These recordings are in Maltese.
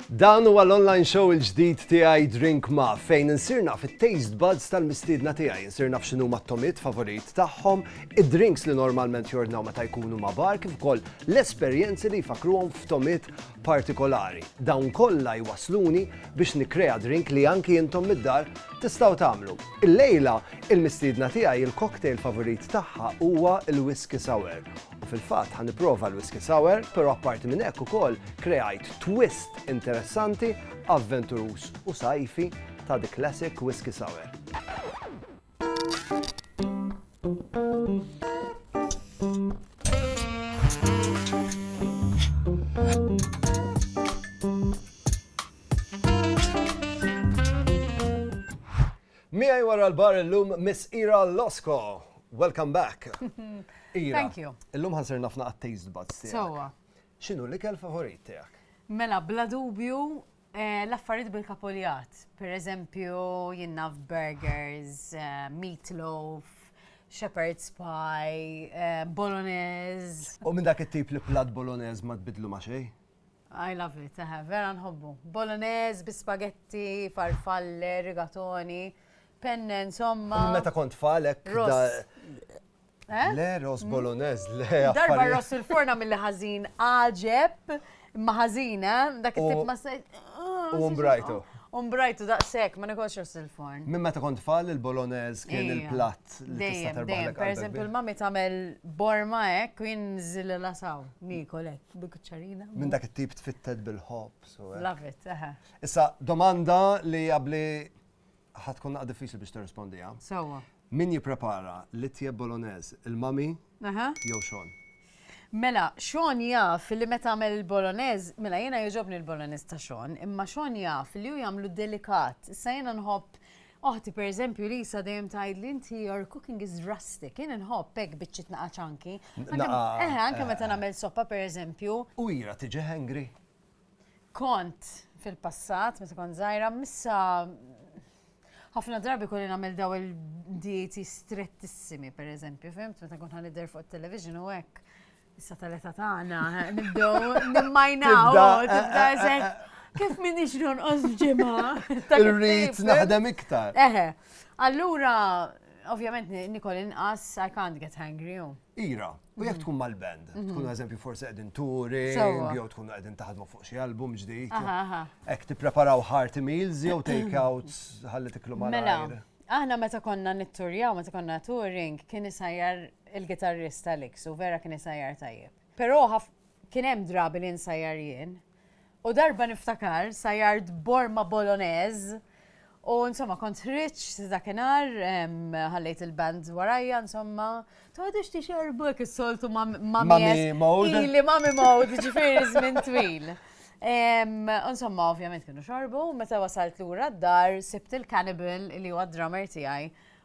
Dan huwa l-online show il-ġdid tiegħi Drink Ma fejn insirna fit-taste buds tal-mistiedna tiegħi, insirna f'xinu ma' tomit favorit tagħhom, id-drinks li normalment jordnaw meta jkunu ma' bar kif ukoll l-esperjenzi li jfakruhom f'tomit partikolari. Dawn kollha jwassluni biex nikkrea drink li anki intom mid-dar tistgħu tagħmlu. Illejla, il-mistiedna tiegħi il-cocktail favorit tagħha huwa l-Whisky Sour. U fil-fatt ħa nipprova l-Whisky Sour, però apparti minn hekk ukoll kreajt twist interessanti, avventuruż u sajfi ta' The Classic Whisky Sour. Miegħi wara l-bar illum Miss Ira Losko. Welcome back. Ira. Thank you. Illum ħansir nafna għat-taste buds tiegħek. Sowa. X'inhu l-ikel favorit tiegħek? Mela, bla dubju, L-affarijiet bil-kapuljat, pereżempju jien naf burgers, meatloaf, shepherd's pie, bolognese. U minn dak it-tip li platt bolognese ma tbiddlu ma' xejn? I love it, eħe, vera nħobbu. Bolognese bi spaghetti, farfalle, rigatoni, penne, insomma. Minn meta kont tfal hekk. Eh? Le, ross bolognese, mm. le. Darba ross il-forna mill ħażin għaġeb, ma ħażin, eh? Dak it-tip ma se. U mbrajtu. Umbrajtu daqsek, ma nekolx ross il-forn. Minn meta kont fall il-bolognese kien il-platt li tista' terbaħlek. Per eżempju, il-mami tagħmel borma hekk u jien żil lasaw, nikol hekk bil-kuċċarina. Minn dak it-tip tfitted bil-ħobb. Love it, eħe. Issa domanda li qabli Ħa tkun naqgħa diffiċli biex tirrispondiha. Sewwa. Min jipprepara l-itjeb Bolognese, il-mami jew Sean? Mela, Sean jaf li meta għamel il-Bolognese, mela jiena jogħġobni l-Bolognese ta' Sean, imma Sean jaf li hu jagħmlu delikat. Issa jiena nħobb Oħti per eżempju li sa dejjem tgħid li inti your cooking is rustic, jien inħobb hekk biċċi tnaqa' ċanki. Eħe, anke eh. meta nagħmel soppa per eżempju. U ira tiġi hangry. Kont fil-passat, meta kont żgħira, missa ħafna drabi kolli nagħmel daw il-dieti strettissimi, per eżempju, fimt, meta kont ħanidher fuq television u hekk. Issa tal-età tagħna, nibdew nimmajnaw, tibda eżek. Kif min ixron ġimgħa? Irrid naħdem iktar. Eħe. Allura, ovvjament nikol inqas I can't get hungry. Ira, u jekk tkun mal-band, mhm. tkun eżempju forsi qegħdin turi, jew tkun qegħdin taħdmu fuq xi album ġdid. Hekk tippreparaw hearty meals jew take out ħalli tiklu mal Mela, aħna meta konna nitturjaw, meta konna touring, kien isajjar il-gitarrista Lix u vera kien isajjar tajjeb. Però kien hemm drabi li nsajjar jien. U darba niftakar sajart borma boloneż u insomma kont ħriġ dakinhar ħallejt il-band warajja insomma tgħodux tixerbu hekk is-soltu ma' Mami Mode. Ili Mami Mode ġifieri żmien twil. Insomma, ovvjament kienu xorbu, meta wasalt lura d-dar, sibt il-Cannibal li huwa d-drummer tiegħi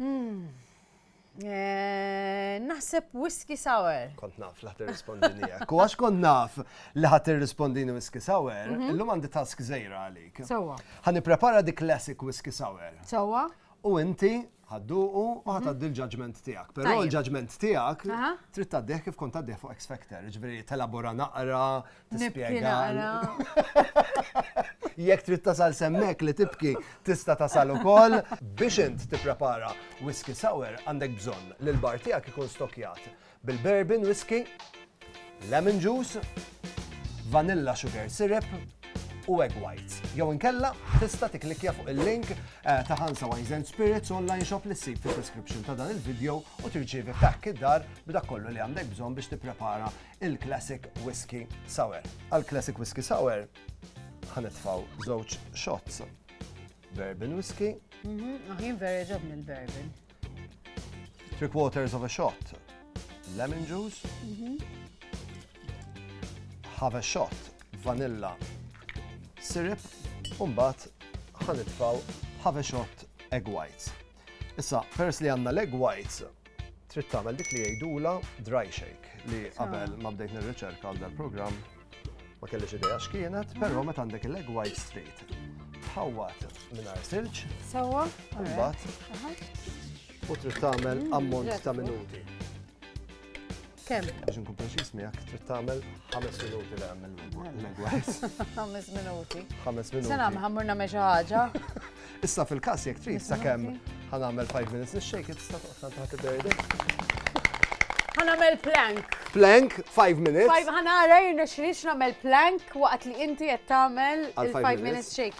Hmm. Eh, naħseb whisky sour. Kont naf li ħat irrispondini hekk. U għax kont naf li ħat irrispondini whisky sour, mhm. illum għandi task żejra għalik. Sewwa. Ħa nipprepara dik classic whisky sour. Sewwa. U inti ħadduqu u mhm. ħatad il-ġaġment tiegħek. Però l-ġaġment tiegħek trid tgħaddih kif kont tgħaddih fuq X Factor, ġifieri telabora naqra, Nispjega. Jekk trid tasal semmek li tibki tista' tasal ukoll biex int tipprepara whisky sour għandek bżonn li l-bar tiegħek ikun stokjat bil-bourbon whisky, lemon juice, vanilla sugar syrup u egg whites. Jew inkella tista' tiklikja fuq il-link eh, ta' Hansa Wines and Spirits online shop li ssib fid-description ta' dan il-video u tirċievi pakk id-dar b'dak kollu li għandek bżonn biex tipprepara il-Classic Whisky Sour. Għal Classic Whisky Sour ħanitfaw żewġ shots. Bourbon whisky. Mhm, Aħin vera ġobni l-bourbon. Three quarters of a shot. Lemon juice. Mhm. Have a shot. Vanilla. Syrup. Umbat ħanitfaw have a shot egg whites. Issa, peress li għandna leg whites, trid tagħmel dik li jgħidula dry shake li qabel ma bdejt nirriċerka għal dal-programm ma kellix idea x'kienet, però meta għandek il-leg white straight. Tħawwat mingħajr silġ. Sewwa. Imbagħad. U trid tagħmel ammont ta' minuti. Kemm? Biex nkun preċiż miegħek trid tagħmel ħames minuti li għamel l-egwajs. Ħames minuti. Ħames minuti. Se nagħmel ħammur nagħmel xi ħaġa. Issa fil-każ jekk trid sakemm ħanagħmel 5 minutes nix-shake it tista' toqgħod tant ħadd iberdi. Ħanagħmel plank. Plank 5 minutes. Ħanara jirna xriex nagħmel plank waqt li inti qed tagħmel il-5 minutes shake.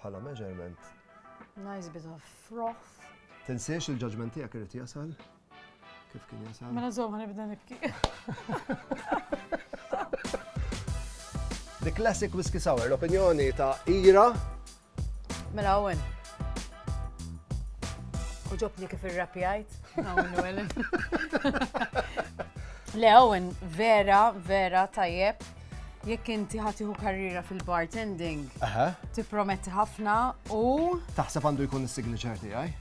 bħala measurement. Nice bit of froth. Tinsiex il-judgement tiegħek irid jasal kif kien jasal. Mela żomm ħanibda nibki. The Classic Whiskey Sour, l-opinjoni ta' Ira. Mela Owen. Uġobni kif ir-rapjajt. Le Owen, vera, vera tajjeb. Jekk inti ħa tieħu karriera fil-bartending, Aha, tipprometti ħafna u taħseb għandu jkun is-signature tiegħi?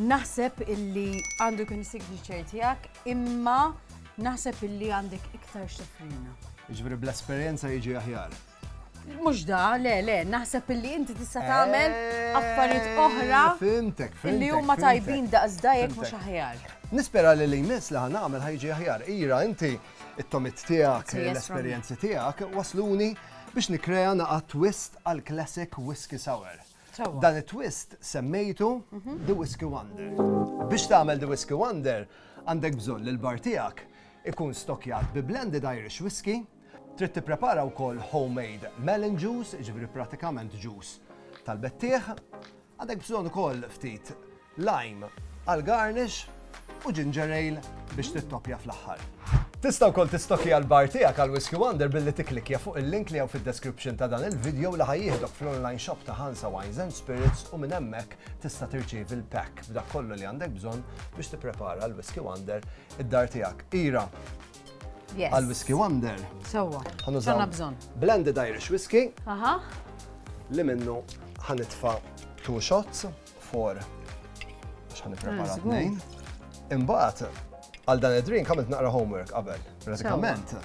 naħseb illi għandu jkun is-signature tiegħek, imma naħseb illi għandek iktar x'tofrina. Jiġifieri bl-esperjenza jiġi aħjar. Mhux da, le, le, naħseb illi inti tista' tagħmel Eh, affarijiet oħra Fimtek, fimtek. illi huma fimtek. tajbin daqs dajek mhux Fimtek. aħjar. Nispera li li jmiss li ħanamel ħajġi aħjar. Ira, inti It-tomit tiegħek, l-esperjenzi tiegħek wasluni biex nikrea naqa' twist għal classic whisky sour. Dan it-twist semmejtu mhm. The Whisky Wonder. Biex tagħmel The Whisky Wonder, għandek bżonn li l-bar tiegħek ikun stokjat bi blended Irish whisky, trid tipprepara wkoll homemade melon juice, ġifri pratikament juice tal-bettieħ, Għandek bżonn ukoll ftit lime għal garnish u ginger ale biex tittoppja fl-aħħar. Tista' wkoll tistokja l-bar tiegħek għal Whiskey Wonder billi tikklikkja fuq il-link li hawn fid-description ta' dan il-video li ħa jieħdok fl-online shop ta' Hansa Wines and Spirits u minn hemmhekk tista' tirċievi l-pack b'dak kollu li għandek bżonn biex tipprepara l-Whiskey Wonder id-dar tiegħek. Ira, għal Whisky Wonder. Sewwa. Għanna bżonn. Blended Irish Whisky. Aha. Li minnu ħanitfa two shots for għax ħan prepara ah, tnejn. Imbagħad għal dan id-drink għamilt naqra homework qabel. Pratikament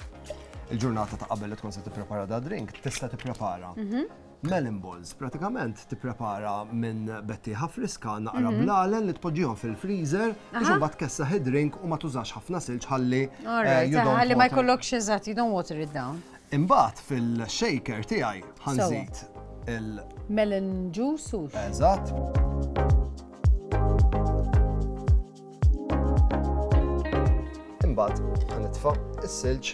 il-ġurnata ta' qabel li tkun se tipprepara da drink, tista' tipprepara mhm. Melon balls, pratikament tipprepara minn bettieħa friska naqra blalen li tpoġġihom fil-freezer biex imbagħad tkessaħ id-drink u ma tużax ħafna silġ ħalli Ħalli ma jkollokx eżatt, you don't water it down. Imbagħad fil-shaker tiegħi ħanżid il- Melon juice u. Eżatt. Imbagħad ħanitfa' is-silġ.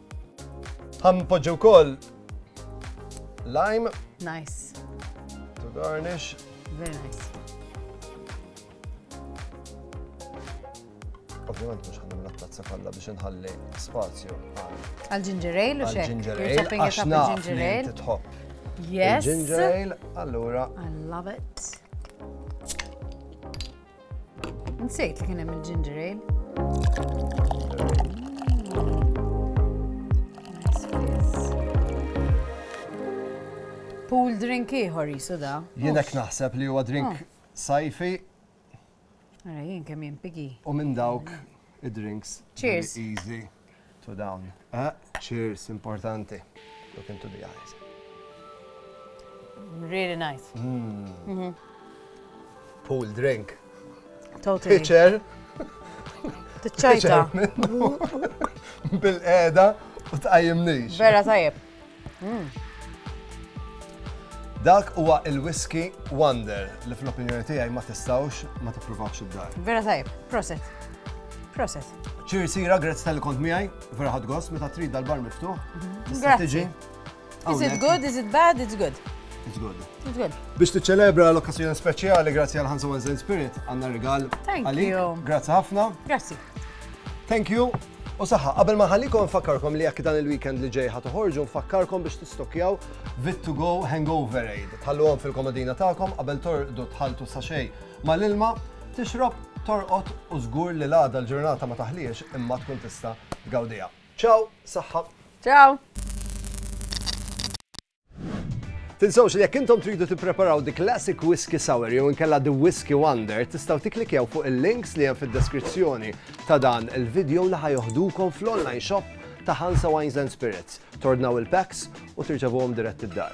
Ħam poġġi wkoll lime. Nice. To garnish. Very nice. Ovvijament mhux ħanna minna tazza kollha biex inħalli spazju għal ginger ale u xek. Ginger ale, għax naf li titħobb. Yes. Ginger ale, allura. I love it. Nsejt li kien hemm il-ginger ale. Pool drink ieħor jisu da. Jienek naħseb li huwa drink oh. sajfi. Ara jien kemm jimpigi. U minn dawk id-drinks. Cheers. Easy. to dawn. Ah, cheers, importanti. Look into the eyes. Really nice. Mm. Mm -hmm. Pool drink. Totally. Pitcher. Tiċċajta. Bil-qeda u tqajjimnix. Vera tajjeb. Dak huwa il-Whisky Wonder li fl-opinjoni tiegħi ma tistgħux ma tippruvawx id-dar. Vera tajb, proset. Proset. Ċir sira, grazzi tal-li kont miegħi, vera ħad gost, meta trid dal-bar miftuħ. Mhm. Grazzi. Is it good, is it bad, it's good. It's good. It's good. Biex tiċċelebra l-okkazjoni speċjali, grazzi għal Hansa Wednesday Spirit, għanna rigal. Thank you. Grazzi ħafna. Grazzi. Thank you. U saħħa, qabel ma ħallikom nfakkarkom li jekk dan il-weekend li ġej ħatoħorġu nfakkarkom biex tistokkjaw Vit to Go Hangover Aid. Tħalluhom fil-komodina tagħkom qabel torqdu tħaltu sa xej mal-ilma, tixrob, torqod u żgur li l-għada l-ġurnata ma taħliex imma tkun tista' tgawdiha. Ciao, saħħa. Ciao. Tinsawx li jekk intom tridu tippreparaw the classic whiskey sour jew inkella the whiskey wonder, tistgħu tikklikjaw fuq il-links li hemm fid-deskrizzjoni ta' dan il-video li ħajoħdukom fl-online shop ta' Hansa Wines and Spirits. Tordnaw il-packs u tirċevuhom dirett id-dar.